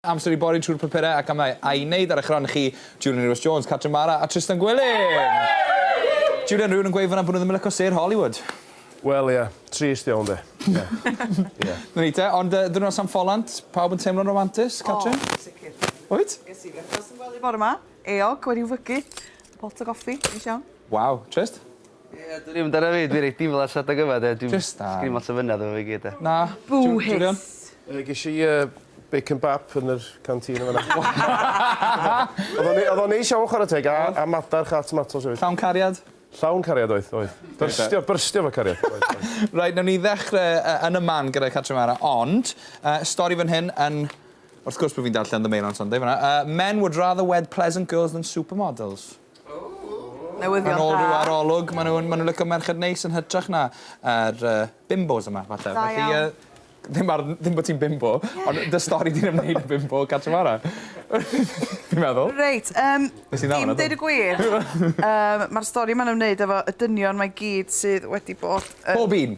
Amser i bori trwy'r papurau a camau a'i wneud ar eich rhan chi, Julian Rhys Jones, Catrin Mara a Trystan Gwilym! Julian, rhywun yn gweud fan'na bod nhw ddim yn lico sêr Hollywood. Wel ie, trist iawn 'de. Ie. Ie. 'Na ni te, ond yy ddiwrnod San Ffolant, pawb yn teimlo'n romantus, Catrin? O, sicr. Wyt? Ges i frecwast yn gwely bore 'ma, eog wedi'w fygu, pot o goffi, neis iawn. Waw, trist. Ie dwn i'm amdana fi dwi reit diflas adeg yma 'de dwi'm... Jyst da. ...sgin i'm lot o fynedd efo fi gyd 'de. Na. Boohis. Yy gesh i yy bacon bap yn yr canteen yn fan 'na. Odd o'n odd o'n neis iawn chwara teg a a madarch a tomatos efyd. Llawn cariad? Llawn cariad oedd oedd. Byrstio byrstio efo cariad oedd oedd. Reit newn ni ddechre yy yn y man gyda Cartre Mara ond yy stori fan hyn yn wrth gwrs bo' fi'n darllen The Mail on Sunday fan 'na yy men would rather wed pleasant girls than supermodels. Newyddion da. Yn ôl rhyw arolwg ma' nw'n ma' nw'n lico merched neis yn hytrach na yr yy bimbos yma falle. Da iawn. Felly yy ddim ar ddim bo' ti'n bimbo ond dy stori di'n ymwneud â bimbo cartre fara. Fi'n meddwl. Reit yym... Nes i ddal wnna do? ...dim deud y gwir yym ma'r stori ma'n ymwneud efo y dynion 'ma i gyd sydd wedi bod yn... Pob un?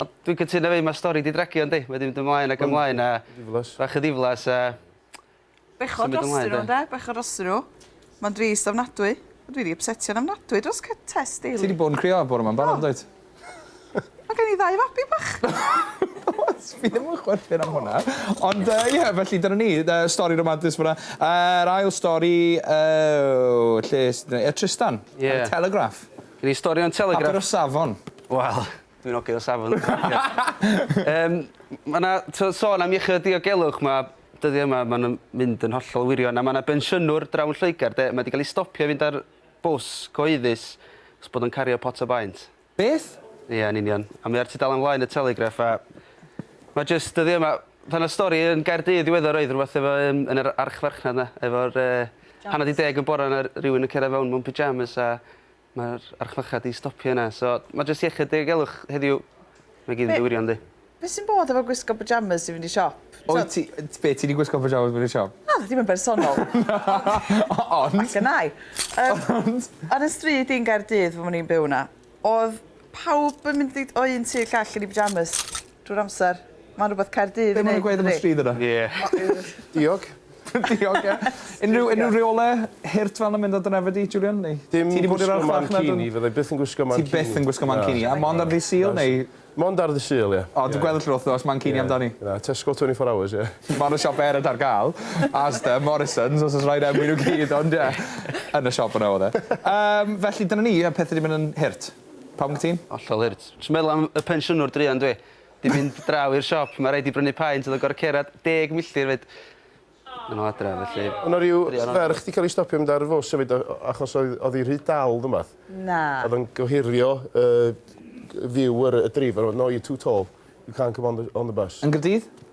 O dwi'n cytuno efo 'i ma' stori 'di dragio yndi? Mae 'di mynd ymlaen ac ymlaen a... Ma'n ddiflas. ...bach yn ddiflas a... Bechod drost i n'w ynde? Bechod drost i n'w. Ma'n drist ofnadwy. O dwi 'di ypsetio'n ofnadwy dros Cy- Tess Daly. Ti 'di bod yn crio bore 'ma'n barod yndwyt? Ma' gen i ddau fabi bach. What? Fi ddim yn chwerthin am hwnna. Ond yy ie felly dyna ni yy stori ramadus fyna. Yr ail stori yy lle s- yy Trystan. Ie. Yn y Telegraph. Gen i stori yn Telegraph. Papur y safon. Wel. Dwi'n ogyn o safon Yym ma' 'na t'o' sôn am iechyd a diogelwch ma' dyddie yma ma' nw'n mynd yn hollol wirion a ma' 'na bensiynwr draw yn Lloegar 'de ma' 'di ga'l 'i stopio i fynd ar bws cyhoeddus 'chos bod o'n cario pot o baent. Beth? Ia yn union a mae o ar tudalen flaen y Telegraph a ma' jyst dyddie 'ma pan o'dd stori yn Gaerdydd ddiweddar oedd rwbeth efo yym yn yr archfarchnad 'na efo'r yy hanner 'di deg y bora 'na rywun yn cera fewn mewn pyjamas a Mae'r archfychad 'di stopio yna, so mae jyst iechyd diogelwch heddiw. Mae gyd yn dywiro yndi? Be sy'n bod efo gwisgo pyjamas i fynd i siop? Wyt ti... Be, ti 'di gwisgo pyjamas i fynd i siop? Na, dim yn bersonol. Ond... Ac yn ai. Ond... Ar 'y stryd i yn Gaerdydd pan o'n i'n byw 'na, o'dd pawb yn mynd i o un tŷ i'r llall yn 'u pyjamas. Drwy'r amser. Mae'n rhywbeth Caerdydd yn neud yndydi? Be' ma' nw'n gweud am y stryd yna? Ie. Diog. Diog ie. Unrhyw unrhyw reole hurt fel 'na mynd ar dy nefyd di Julian neu? Dim gwisgo mancini. Ti 'di bod i'r archfarch na dim? Fyddai byth yn gwisgo mancini. Ti byth yn gwisgo mancini? Na. A mond ar ddy' Sul neu? Mond ar ddy' Sul ie. O dwi'n gweld y lle wthnos mancini amdani. Na Tesco twenty four hours ie. Ma' 'na siop eraill ar ga'l. Asda, Morrisons os o's raid enwi n'w gyd ond ie. Yn y siop yna o'dd e. Yym felly dyna ni y pethe 'di myn' yn hurt. Pam wyt ti'n? Hollol hurt. Jyst meddwl am y pensiynwr druan dwi. 'Di mynd draw i'r siop, ma' raid 'di brynu paent o'dd yn gor'o' cerad deg milltir 'fyd. Yn ol adra felly... O' 'na ryw ferch 'di ca'l 'i stopio mynd ar y fws efyd o- achos oedd o'dd 'i rhy dal ne' wbath. Na. O'dd o'n gohirio y g- view yr y dreifar o- no you're too tall. You can't come on the on the bus. Yn Nghardydd?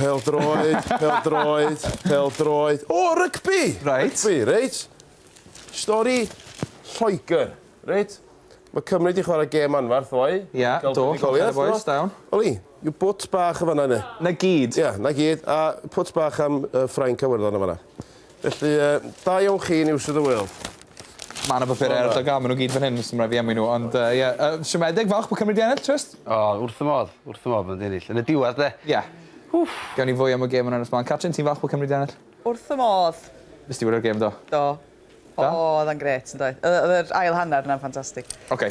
Pêl-droed, pêl-droed, pêl-droed. O, rygbi! Reit. Rygbi, reit. Stori Lloegr, reit. Mae Cymru wedi chwarae gêm anfarth ddoe. Ie, do, Gael llongen y buddugoliaeth, bois, do. da iawn. Oli, yw bwt bach yn fanna, ne? Na gyd. Ie, na gyd. A pwt bach am yy, Ffrainc a Werddon yn fanna. Felly yy da iawn chi News of the World. Ma' 'na bapure ar y dogan ma' n'w gyd fan hyn so ma' raid fi enwi n'w ond yy ie yy siomedig falch bo' Cymru 'di ennill Trist. O wrth fy modd wrth fy modd ma' n'w 'di ennill yn y diwedd de? Ie. Wff. Gawn ni fwy am y gêm yn Ynys Môn. Catrin ti'n falch bo' Cymru 'di ennill? Wrth fy modd. Nes ti wylio'r gêm do? Do. O. Odd e'n grêt yndoedd? Yy o'dd yr ail hanner 'na'n ffantastig. Oce.